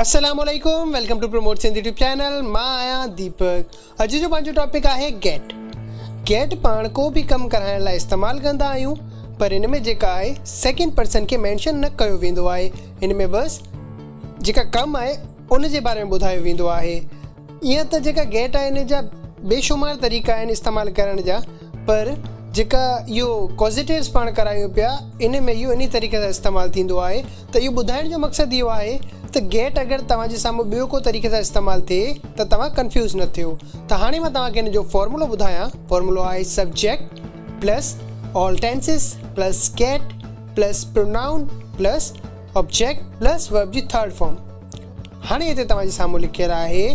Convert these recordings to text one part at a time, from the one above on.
السلام عليڪم welcome to promote Sindh YouTube channel مان آهيان ديپڪ اڄ جو پنهنجو ٽاپڪ آهي گيٽ گيٽ پاڻ ڪو به ڪم ڪرائڻ لاء استعمال ڪندا آهيون پر ان ۾ جيڪا آهي سيڪنڊ پرسن کي مينشن نه ڪيو ويندو آهي ان ۾ بس جيڪا ڪم آهي ان جي باري ۾ ٻڌايو ويندو آهي ايئن ته جيڪا گيٽ آهي ان جا بي شمار طريقا آهن استعمال ڪرڻ جا پر جيڪا اهو ڪوزيٽيوز پاڻ ڪرايون پيا ان ۾ اهو انهي طريقي سان استعمال ٿيندو آهي ته اهو ٻڌائڻ جو مقصد اهو آهي ته گيٽ اگر توهان جي سامهون ٻيو ڪو طريقي سان استعمال ٿئي ته توهان ڪنفيوز نه ٿيو ته هاڻي مان توهان کي ان جو فارمولو ٻڌايان فارمولو آهي subject plus all tenses plus get plus pronoun plus object plus verb جي ٿرڊ فارم هاڻي هتي توهان جي سامهون لکيل آهي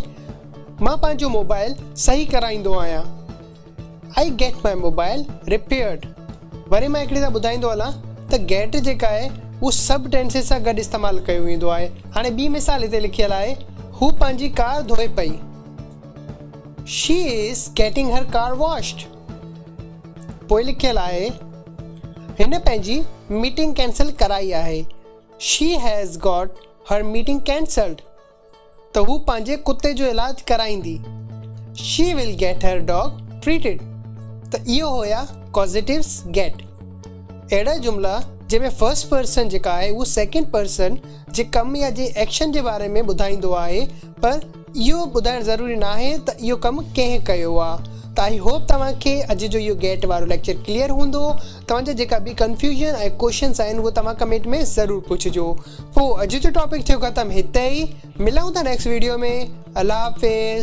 مان پنهنجو موبائل صحيح ڪرائيندو آهيان I get my mobile repaired وري مان هڪڙي سان ٻڌائيندو هلان ته get جيڪا آهي اهو سڀ ٽينسز سان گڏ استعمال ڪيو ويندو آهي هاڻي ٻي مثال هتي لکيل آهي هو پنهنجي ڪار ڌوئي پئي She is getting her car washed پوء لکيل آهي هن پنهنجي ميٽنگ ڪينسل ڪرائي آهي She has got her meeting cancelled ته هو پنهنجي ڪتي جو علاج ڪرائيندي she will get her dog treated ته اهو هيا ڪازيٽيوز گيٽ اهڙا جملا جنهن ۾ فرسٽ پرسن جيڪا آهي اهو سيڪنڊ پرسن جي ڪم يا جي ايڪشن جي باري ۾ ٻڌائيندو آهي پر اهو ٻڌائڻ ضروري ناهي ته اهو ڪم ڪنهن ڪيو آ. ته آئي هوپ توهان کي اڄ جو اهو گيٽ وارو ليڪچر ڪليئر هوندو. توهان جا جيڪا به ڪنفيوزن ۽ ڪوشچنس آهن اهو توهان ڪمينٽ ۾ ضرور پڇجو. پوء اڄ جو ٽاپڪ ٿيو ختم هتي ئي. ملون ٿا نيڪسٽ ويڊيو ۾. الله حافظ.